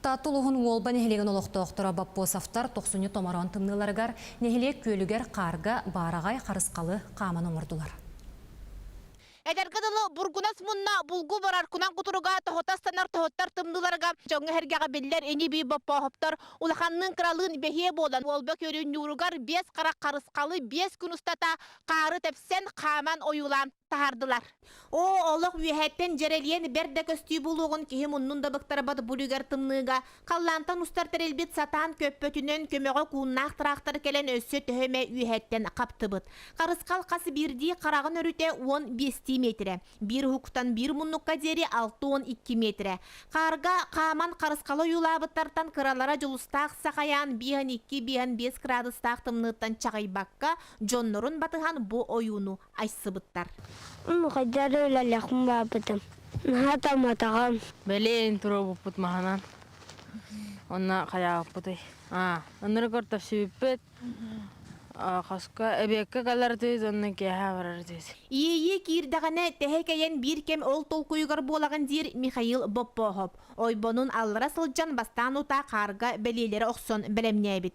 Таатта улууһун Уолба нэһилиэгин олохтоохторо Боппосовтар Тохсунньу томороон тымныыларыгар, нэһилиэк күөлүгэр хаарга баараҕай харысхалы хааман оҥордулар. Эдэргэ дылы Бургунас мунна булгу барар кунан кутуруга тоһота станар тоһоттор тымныыларга дьоҥҥо эргэҕэ биллэр ини-бии боппооһоптор улаханныын кыралыын бэһиэ буолан Уолба күөлүн ньууругар биэс харах харысхалы биэс күн устата хаары тэпсэн хааман ойуулаан таһаардылар. Оо, олох үөһэттэн дьэрэлиэн бэрт да көстүү булуоҕун киһи муннун да быктарбат булугар тымныыга, халлаантан устар тэрилбит сатаан көппөтүнэн көмөҕө кууннаах тыраахтар кэлэн өссө төһө эмэ үөһэттэн хаптыбыт. Харысхал хас биирдии хараҕын өрүтэ уон биэстии метрэ, биир уһуктан биир муннукка диэри алта уон икки метрэ. Хаарга хааман харысхалы ойуулаабыттартан кыралара дьулустаах сахайаан биэһэн икки биэһэн биэс кыраадыстаах тымныыттан чаҕыйбакка дьоннорун батыһан бу ойууну айсыбыттар. Хайдах да үлэлэхпин баапытым. Наһаа таматаҕам. Бэлиэн туруорбуппут маһынан. Онно хайааппытый? А, оннуну көртөхсүбүппүт. Хаска эбиэккэ калартыйт онно киэһэ барартыйт. Иэйии киирдэҕинэ тэһэкэйэн биир кэм ол толкуйугар буолаҕын диир Михаил Боппоһоп. Ойбонун аллара сылдьан бастаан утаа хаарга бэлиэлэрэ охсон бэлэмнээбит.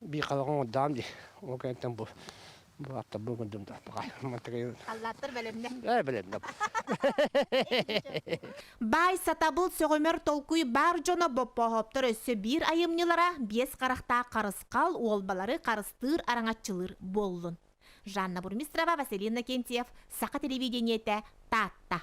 Биихалаҕа оҥордоҕум дии. Ол кэнниттэн бу бу аттарбын көрдүм да мантыгай Аллааттар бэлэмнэ. Ээ бэлэмнэ. Баай сатабыл сөҕүмэр толкуй баар дьоно боппооһооптор өссө биир айымньылара биэс харахтаах харысхал уолбалары харыстыыр араҥаччылыыр буоллун. Жанна Бурмистрова, Василий Иннокентьев, Саха телевидениетэ, Таатта.